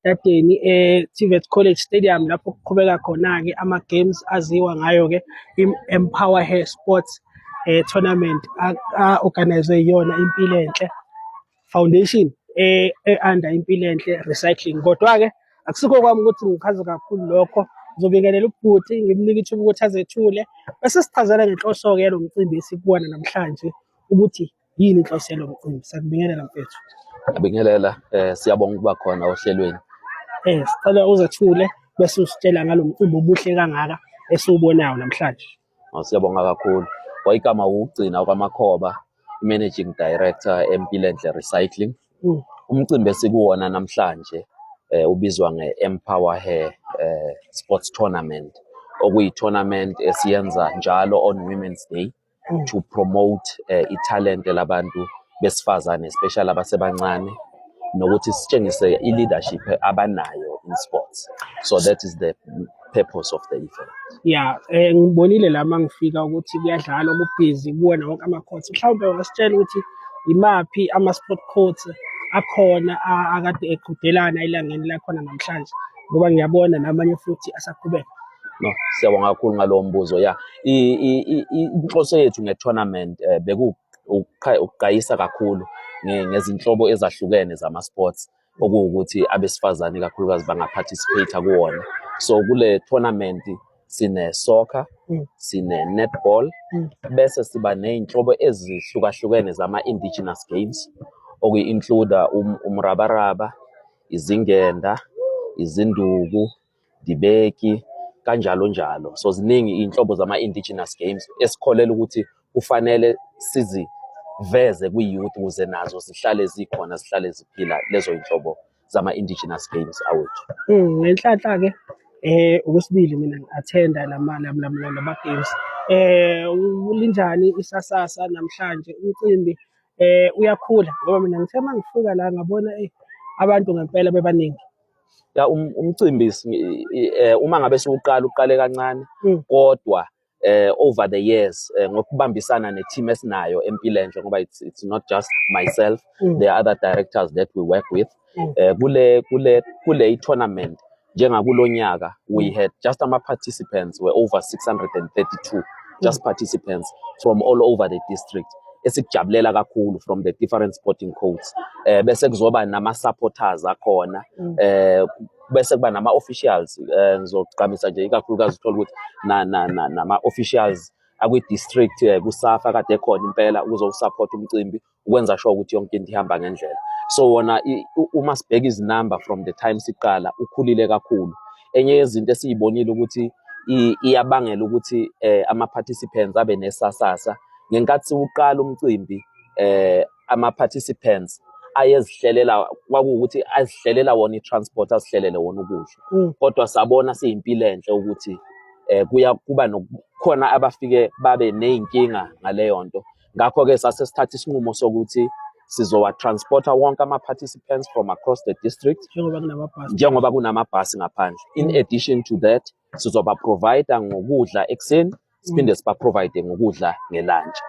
Dadeni e-TVET College Stadium lapho kuqhubeka khona-ke ama-games aziwa ngayo-ke i-Empower Hair Sports eh, Tournament a-organizwe yiyona Impilo Enhle Foundation e-under Impilo Enhle Recycling. Kodwa-ke akusikho kwami ukuthi ngichaze kakhulu lokho ngizobingelela ubhuti ngimnike ithuba ukuthi azethule bese sichazela ngenhloso-ke yalo mcimbi esikuwona namhlanje ukuthi Yini inhloso yalo mcimbi? Sakubingelela mfethu. Ngibingelela eh siyabonga ukuba khona ohlelweni. Eh sicela uzathule bese usitshela ngalo mcimbi obuhle kangaka esiwubonayo namhlanje. Oh, siyabonga kakhulu. Wayigama wugcina kwamakhoba managing director eMpilenhle Recycling. Mm. Umcimbi esikuwona namhlanje eh ubizwa nge-Empower Hair eh Sports Tournament okuyi-tournament esiyenza njalo on Women's Day mm. to promote uh, italente labantu besifazane especially abasebancane nokuthi sitshengise i-leadership abanayo in sports so that is the purpose of the event ya eh, ngibonile la ma ngifika ukuthi kuyadlalwa kubhizi kuwona wonke ama-courts mhlawumbe ungasitshela ukuthi yimaphi ama-sport courts akhona akade eqhudelana elangeni lakhona namhlanje ngoba ngiyabona namanye futhi asaqhubeka No, siyabonga kakhulu ngalowo mbuzo ya inhloso yethu nge-tournament um beku ukuqayisa kakhulu ngezinhlobo ezahlukene zama-sports okuwukuthi abesifazane kakhulukazi bangaparticipate kuwona so kule tournament sine-soccer mm. sine-netball mm. bese siba ney'nhlobo ezihlukahlukene zama-indigenous games okuyi-includa um, umrabaraba izingenda izinduku dibeki kanjalo njalo. So ziningi iy'nhlobo zama-indigenous games esikholelwa ukuthi kufanele siziveze kwi-youth ukuze nazo zihlale zikhona zihlale ziphila lezo y'nhlobo zama-indigenous games awethu. Mm, ngenhlanhla-ke eh okwesibili mina ngi-athenda lama lama games eh linjani isasasa namhlanje umcimbi eh uyakhula ngoba mina ngithe uma ngifika la ngabona eh, abantu ngempela bebaningi. ya um, umcimbi eh, uma ngabe siwuqala uqale kancane mm. kodwa eh over the years eh, ngokubambisana ne team esinayo empilendle ngoba it's, it's not just myself mm. there are other directors that we work with mm. eh, kule kule kule tournament njengakulonyaka we mm. had just ama participants were over 632 just mm. participants from all over the district esikujabulela kakhulu from the different sporting codes eh bese kuzoba nama supporters akhona mm. eh bese kuba nama officials eh ngizogqamisa nje ikakhulukazi uthola ukuthi na na nama officials akwi district eh, kusafa kade khona impela ukuzosupport umcimbi ukwenza sure ukuthi yonke into ihamba ngendlela so wona uma sibheka izinamba from the time siqala ukhulile kakhulu enye yezinto esiyibonile ukuthi iyabangela ukuthi eh, ama-participants abe nesasasa ngenkathi siwuqala umcimbi eh, ama-participants ayezihlelela kwakuwukuthi azihlelela wona i-transport azihlelele wona ukudla mm. kodwa sabona siyimpilo enhle ukuthi eh kuya kuba nokukhona abafike babe nezinkinga ngaleyo nto Ngakho-ke sase sithatha isinqumo sokuthi sizowa-transporta wonke ama-participants from across the district njengoba kunamabhasi ngaphandle. In mm. addition to that, sizoba-provide ngokudla ekuseni siphinde mm. siba-provide ngokudla ngelantshi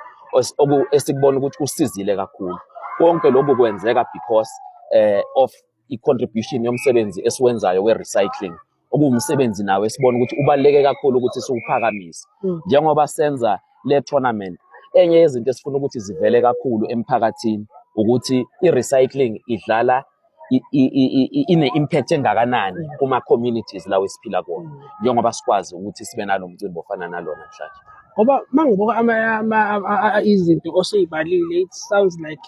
esikubona ukuthi kusizile kakhulu. Konke lokhu kwenzeka because eh, of i-contribution yomsebenzi esiwenzayo we-recycling okuwumsebenzi nawo esibona ukuthi ubaluleke kakhulu ukuthi siwuphakamise mm. njengoba senza le tournament enye yezinto esifuna ukuthi zivele kakhulu emphakathini ukuthi i-recycling idlala ine-impact engakanani mm. kuma-communities lawo esiphila kuwona mm. njengoba sikwazi ukuthi sibe nalo mcimbi ofana nalona mhlanje ngoba uma ngibuka izinto osuyibalile it sounds like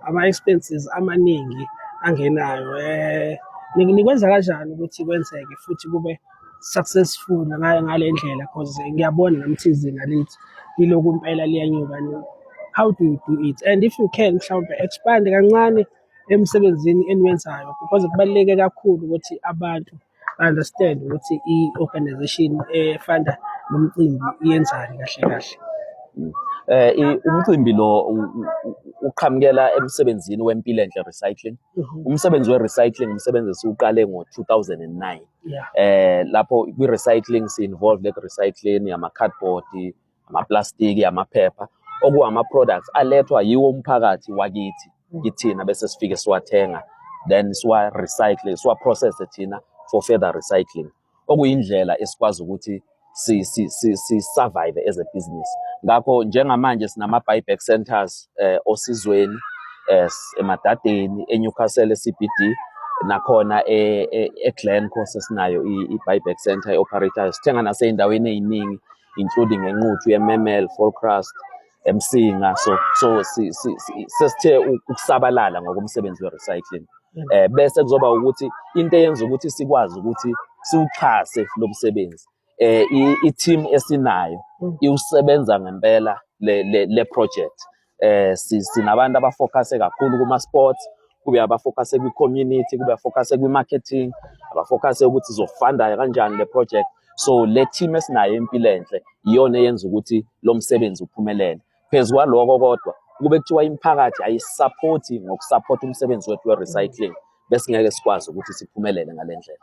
ama-expenses amaningi angenayo eh nikwenza kanjani ukuthi kwenzeke futhi kube successful ngayo ngale ndlela because ngiyabona nami thizina lithi yilokhu impela liyanyuka how do you do it and if you can mhlawumbe expand kancane emsebenzini eniwenzayo because kubaluleke kakhulu ukuthi abantu I understand ukuthi i-organization efanda nomcimbi iyenzani kahle kahle. Eh i- umcimbi lo u- u- u- uqhamukela emsebenzini wempilo enhle recycling. Mhm. Umsebenzi we-recycling umsebenzi esiwuqale ngo-2009. Yeah. Eh lapho kwi-recycling si-involved eku-recycling yama-cardboard, amaplastiki amaphepha okuwama-products alethwa yiwo umphakathi wakithi mm. kithina bese sifike siwathenga then siwa-recycle siwa-processe thina for further recycling okuyindlela esikwazi ukuthi si-survive as a business ngakho njengamanje sinama-buyback centers eh, osizweni eh, emadadeni enewcastle ecb d nakhona e-glenco e, e sesinayo i-buyback center e-operatayo sithenga nasey'ndaweni ey'ningi including enquthu yememel folcrust emsinga so so sesithe ukusabalala ngokomsebenzi we-recycling um eh, bese kuzoba ukuthi into eyenza ukuthi sikwazi ukuthi siwuxhase lo msebenzi eh i-team esinayo mm. iwusebenza ngempela le project eh sinabantu abafocuse kakhulu kuma sports kube abafocuse kwi community kube abafocuse kwi marketing abafocuse ukuthi zofanda kanjani le project so le team esinayo impilo enhle iyona eyenza ukuthi lo msebenzi uphumelele phezu kwaloko kodwa kube kuthiwa imiphakathi ayisaphothi ngokusapotha umsebenzi wethu we-recycling besingeke sikwazi ukuthi siphumelele ngale ndlela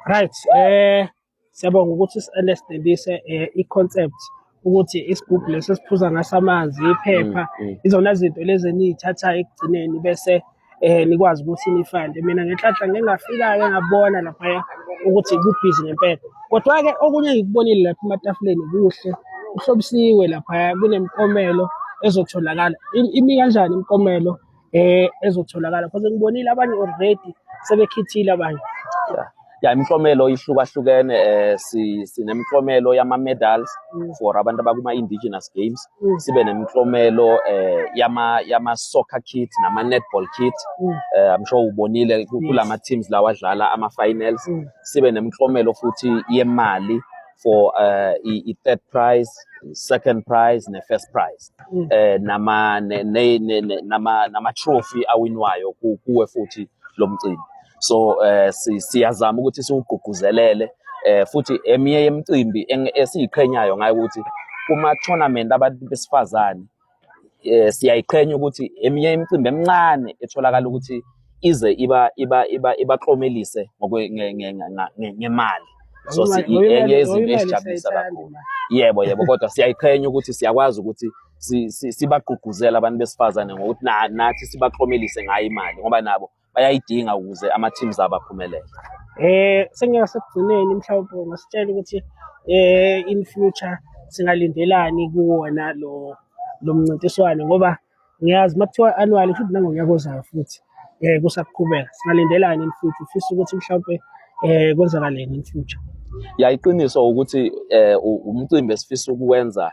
right eh Siyabonga ukuthi uselesdelise eh, i-concept ukuthi isigubhu lesi esiphuza ngaso amanzi iphepha mm, mm. izona zinto lezi eniyithathayo ekugcineni bese eh nikwazi ukuthi nifande mina ngenhlanhla ngingafika-ke ngabona laphaya ukuthi kubhizi ngempela kodwa-ke okunye engikubonile lapha ematafuleni kuhle kuhlobisiwe laphaya kunemikomelo ezotholakala imi kanjani imikomelo eh ezotholakala because ngibonile abanye already sebekhithile abanye ya imiklomelo ihlukahlukene eh si sinemiklomelo yama medals mm. for abantu abakuma indigenous games mm. sibe nemiklomelo eh yama yama soccer kit nama netball kit mm. eh i'm sure ubonile kulama teams lawa adlala ama finals sibe nemiklomelo futhi yemali for uh, i-third prize second prize ne-first prize mm. eh nama nama nama trophy awinwayo kuwe futhi lo mcimbi so eh siyazama ukuthi siwugqugquzelele eh futhi eminye yemicimbi esiyiqhenyayo ngayo ukuthi kuma tournament abantu besifazane eh, siyayiqhenya ukuthi eminye imicimbi emincane etholakala ukuthi ize iba iba iba ibaklomelise ngemali so enye yezinto esijabulisa kakhulu yebo yebo kodwa siyayiqhenya ukuthi siyakwazi ukuthi sibagqugquzele abantu besifazane ngokuthi nathi sibaklomelise ngayo imali ngoba nabo bayayidinga ukuze ama teams abo aphumelele eh sengasekugcineni mhlawumbe ngasitshela ukuthi eh in future singalindelani kuwona lo lo mncintiswano ngoba ngiyazi uma kuthiwa annual futhi nangonyaka ozayo futhi eh kusaqhubeka singalindelani in future ufisa ukuthi mhlawumbe eh kwenzakaleni in future ya iqiniso ukuthi eh umcimbi esifisa ukuwenza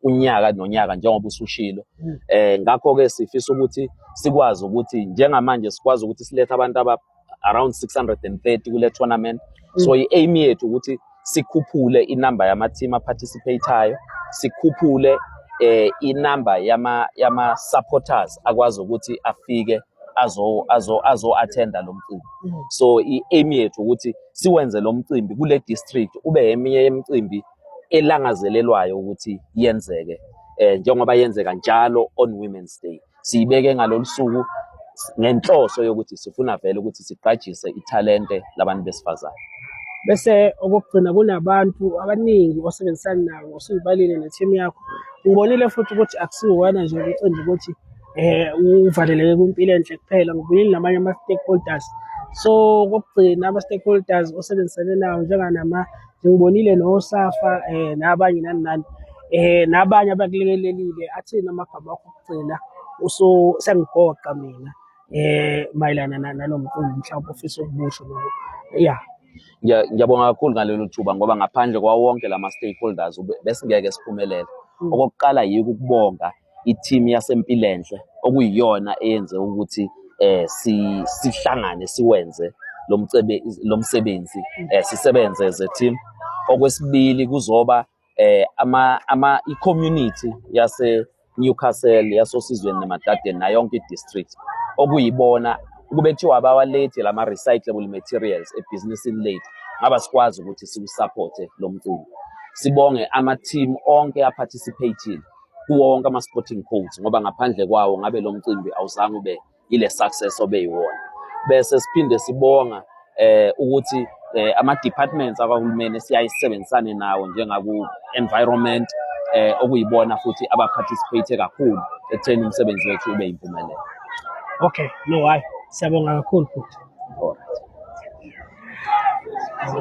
unyaka nonyaka njengoba usushilo hmm. eh ngakho ke sifisa ukuthi sikwazi ukuthi njengamanje sikwazi ukuthi silethe abantu aba around 630 kule tournament hmm. so i-aim yethu ukuthi sikhuphule inamba yama team aparticipatayo sikhuphule eh inamba yama yama supporters akwazi ukuthi afike azo azo azo attend lo mcimbi hmm. so i-aim yethu ukuthi siwenze lo mcimbi kule district ube eminye yemicimbi elangazelelwayo ukuthi yenzeke eh njengoba yenzeka njalo on women's day siyibeke ngalolu suku ngenhloso yokuthi sifuna vele ukuthi siqajise ithalente labantu besifazane bese okokugcina kunabantu abaningi osebenzisana nabo osuyibalile ne-team yakho ngibonile futhi ukuthi akusiwona nje umcimbi ukuthi eh uvaleleke kwimpilo enhle kuphela ngibuyile namanye ama-stakeholders so kokugcina ama-stakeholders osebenzisane nawo njenganama Ngibonile noSafa eh nabanye nani nani eh nabanye abakulekelelile athina amagama akho okugcina uso sengigoqa mina eh mayelana nalomcimbi mhlawumbe ofisa ukumusho lokho yeah ngiyabonga kakhulu ngalelo thuba ngoba ngaphandle kwawonke lama stakeholders besingeke siphumelele mm. okokuqala yiko ukubonga i-team yaseMpilenhle okuyiyona eyenze ukuthi eh si sihlangane siwenze lomcebe lomsebenzi eh sisebenze as a team okwesibili kuzoba eh ama ama i-community yase Newcastle yasosizweni neMadadeni nayo yonke i-district okuyibona kube kuthiwa abawalethi lama recyclable materials ebhizinisini lethu ngaba sikwazi ukuthi siwusupporte lo mcimbi sibonge ama-team onke aphathisipheyithile kuwo wonke ama-sporting codes ngoba ngaphandle kwawo ngabe lo mcimbi awuzange ube ile success obeyiwona bese siphinde sibonga eh ukuthi eh, ama departments akahulumeni siyayisebenzisane nawo njengaku environment eh okuyibona futhi aba participate kakhulu ekutheni umsebenzi wethu ube yimpumelelo okay no why siyabonga kakhulu futhi